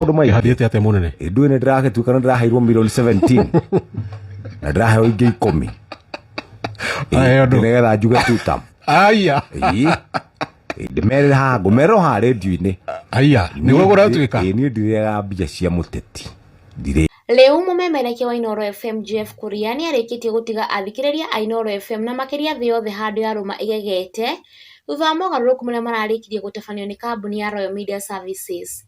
maundu mai Ĩhathiĩte atĩa mũnene? nduä nä ndäragä tuä kana ndä raheirwo milioni 17 na ndä raheirwo ingä ikå Aheo ndũ. getha njuge tutam Aya. ndä merä ra haha ngå merä haha redio-inä Aya. Nĩguo gũratuĩka. niä ndirega mbia cia må teti ndirä Rĩu mũmemerekia wa Inooro FM Jeff Kuria nĩ arĩkĩtie gũtiga athikĩrĩria a Inooro FM na makĩria thĩ yothe handũ ya rũma ĩgegete thutha wa mogarũrũku marĩa mararĩkirie gũtabanio nĩ kambuni ya Royal Media Services.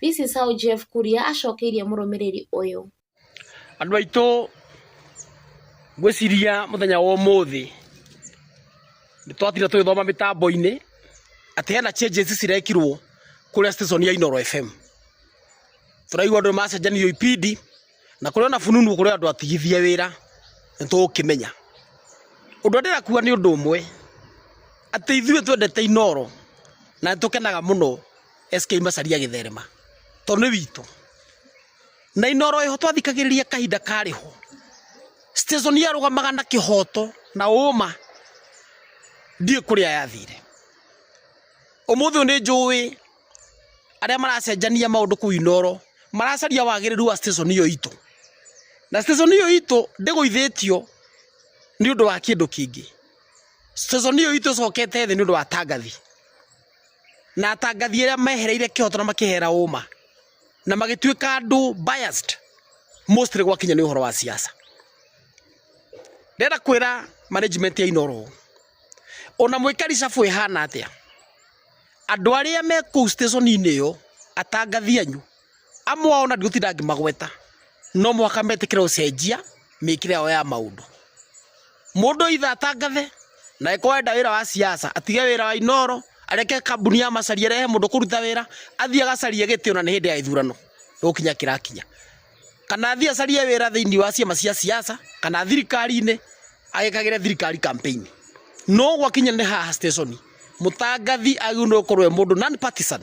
This is how Jeff Kuria acokeirie mũrũmĩrĩri ũyũ. Andũ aitũ ngwĩciria mũthenya wa ũmũthĩ nĩ twatira tũgĩthoma mĩtambo-inĩ atĩ hena changes cirekirwo kũrĩa station ya Inoro FM. Tũraigua andũ macenjanio ibindi na kũrĩ ona fununu kũrĩ andũ atigithie wĩra nĩ tũgũkĩmenya. Ũndũ ndĩra kuga nĩ ũndũ ũmwe atĩ ithuĩ twendete Inoro na nĩ tũkenaga mũno SK Macharia gĩtherema to nĩ witũ na inoro ĩho twathikagĩrĩria kahinda karĩ ho station yarũgamaga na kĩhoto na ũma ndiĩ kũrĩa yathire ũmũthĩ ũyũ nĩ njũĩ arĩa maracenjania maũndũ kũu inoro maracaria wagĩrĩru wa station ĩyo itũ na station ĩyo itũ ndĩgũithĩtio nĩ ũndũ wa kĩndũ kĩngĩ station ĩyo itũ ĩcokete thĩ nĩ ũndũ wa tangathi na atangathi arĩa mehereire kĩhoto na makĩhera ũma na magĩtuĩka andũ biased mostly gwakinya nĩ ũhoro wa siasa ndĩrenda kwĩra management ya Inoro ona mwĩka ricabu ĩhana atĩa andũ arĩa me kũu station-inĩ ĩyo atangathi anyu amwe ao na ndigũtinda ngĩmagweta no mũhaka metĩkĩre gũcenjia mĩkĩre yao ya maũndũ mũndũ itha atangathe na ĩkorwo enda wĩra wa siasa atige wĩra wa inoro areke kambuni ya macaria rehe mũndũ kũruta wĩra athiĩ agacarie gĩtĩ ona nĩ hĩndĩ ya ithurano gũkinya kĩrakinya kana athiĩ acarie wĩra thĩinĩ wa ciama cia siasa kana thirikari-inĩ agĩkagĩre thirikari campaign no gwakinya nĩ haha station mũtangathi agĩrĩirwo nĩ gũkorwo e mũndũ non partisan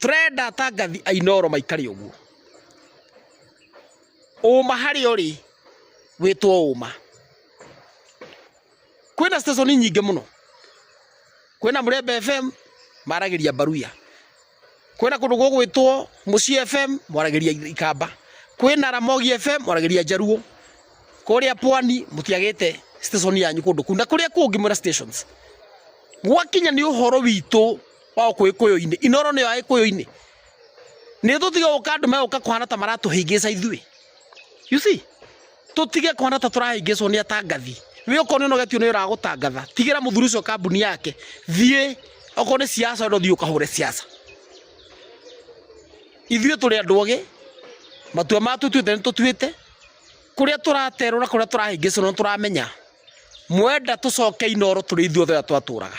Tũrenda atangathi a Inoro maikare ũguo. Ũma harĩ ũrĩ wĩtwo ũma. Kwĩna station nyingĩ mũno. Kwĩna Mũrembe FM maragĩria Mbaruya. Kwĩna kũndũ gũgwĩtwo Mũciĩ FM mwaragĩria Ikamba. Kwĩna Ramogi FM mwaragĩria Jaruo. Kũrĩa Pwani mũtiagĩte station yanyu kũndũ kũu na kũrĩa kũngĩ mwĩna stations. Gwakinya nĩ ũhoro witũ wa Ũkũyũ-inĩ. Inooro nĩyo Agĩkũyũ-inĩ. Nĩ tũtige gũka andũ megũka kũhana ta maratũhĩngĩca ithuĩ. You see? Tũtige kũhana ta tũrahĩngĩcwo nĩ atangathi. We okorwo nĩ ũnogetio nĩ ũragũtangatha, tigĩra mũthuri ũcio kambuni yake. Thiĩ okorwo nĩ siasa wenda ũthiĩ ũkahũre siasa. Ithuĩ tũrĩ andũ ogĩ, matua ma tũtuĩte nĩ tũtuĩte, kũrĩa tũraterwo na kũrĩa tũrahĩngĩcwo nĩ tũramenya. Mwenda tũcoke Inooro tũrĩ ithuothe ũrĩa twatũraga.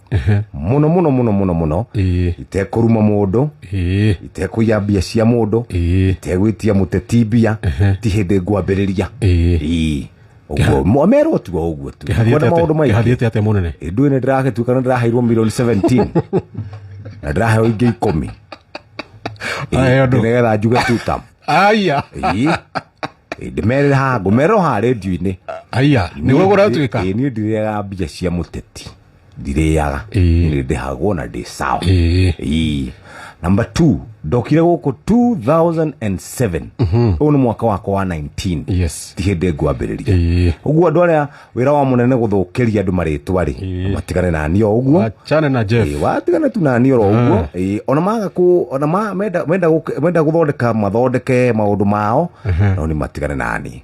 Ehe. muno muno muno muno muno Ĩĩ. itekũruma mũndũ Ĩĩ. itekũiya mbia cia mũndũ Ĩĩ. itegwĩtia mũteti mbia ti hĩndĩ ngwambĩrĩria Ĩĩ. Ĩĩ. Ũguo, mo- merwo tu o ũguo tu Ĩhathiĩte Kwenda maũndũ atĩa- maingĩ ĩhathiĩte atĩa mũnene ndui nä ndäragätuĩka nä ndäraheirwo milioni 17 na ndäraheo ingä ikå Ahe andũ. getha njuge tuta aya ndä merä ha ngå merwo ha redio-inä aya nä gå gå ratuä ka niä ndirega mbia cia må teti ndirĩaga Ĩĩ. nĩ ndĩhagwo na ndĩ sawa Ĩĩ. Ii. number two ndokire gũkũ 2007 ũyũ nĩ mwaka wakwa wa 19 Yes. ti hĩndĩ ngwambĩrĩria Ĩĩ. ũguo andũ arĩa wĩra wa mũnene gũthũkĩria andũ marĩtwa rĩ Ĩĩ. matigane nani o ũguo Wachane na Jeff. Ĩĩ, watigana tu nani oro ũguo Ĩĩ, ona maga kũ- ona ma- menda- menda gũk- menda gũthondeka mathondeke maũndũ mao no nĩ matigane nani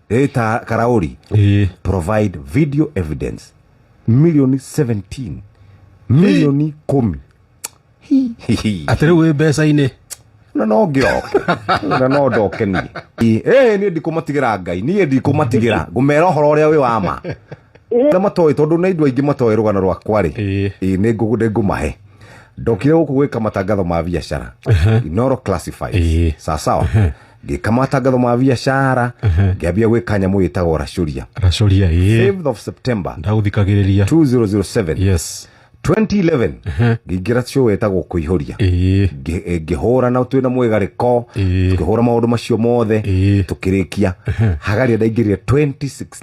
Rita Karauri Eh. provide video evidence milioni 17 milioni kumi Hi, hi, hi. Atĩ rĩu wĩ mbeca-inĩ. na no ngĩroke na no ndoke niĩ Ĩ, ĩ, niĩ ndikũmatigĩra ngai niĩ ndikũmatigĩra ngũmera ũhoro ũrĩa wĩ wa ma na matoĩ tondũ nĩ andũ aingĩ matoĩ rũgano rwakwa rĩ Ĩ. Ĩ, nĩ ngũ- nĩ ngũmahe ndokire gũkũ gwĩka matangatho ma biacara inoro classified Ĩ. sawasawa ngĩka matangatho ma biacara ngĩambia gwĩka nyamũ ĩtagwo racuria racoria ĩ 5th of september ndagũthikagĩrĩria 2007 yes 2011 ngĩingĩra show ĩtagwo kũihũria ĩ Ngĩ- eh, ngĩhũra na twĩna mwĩgarĩko Ĩĩ. tũkĩhũra maũndũ macio mothe Ĩĩ. tũkĩrĩkia hagaria ndaingĩrire 2016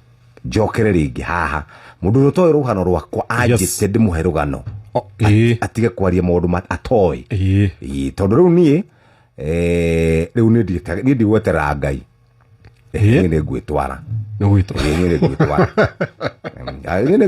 njokere rĩngĩ haha mũndũ ũrĩa ũtoĩ rũgano rwakwa anjĩte ndĩmũhe rũgano O- ĩĩ. atige kwaria maũndũ ma- atoĩ Ĩĩ. Ĩĩ, tondũ rĩu niĩ eh, rĩu niĩ ndigĩta- niĩ ndigweterera ngai Ĩĩ. niĩ nĩ ngwĩtwara nĩ gwĩtwa Ĩĩ, niĩ nĩ ngwĩtwara Em, niĩ nĩ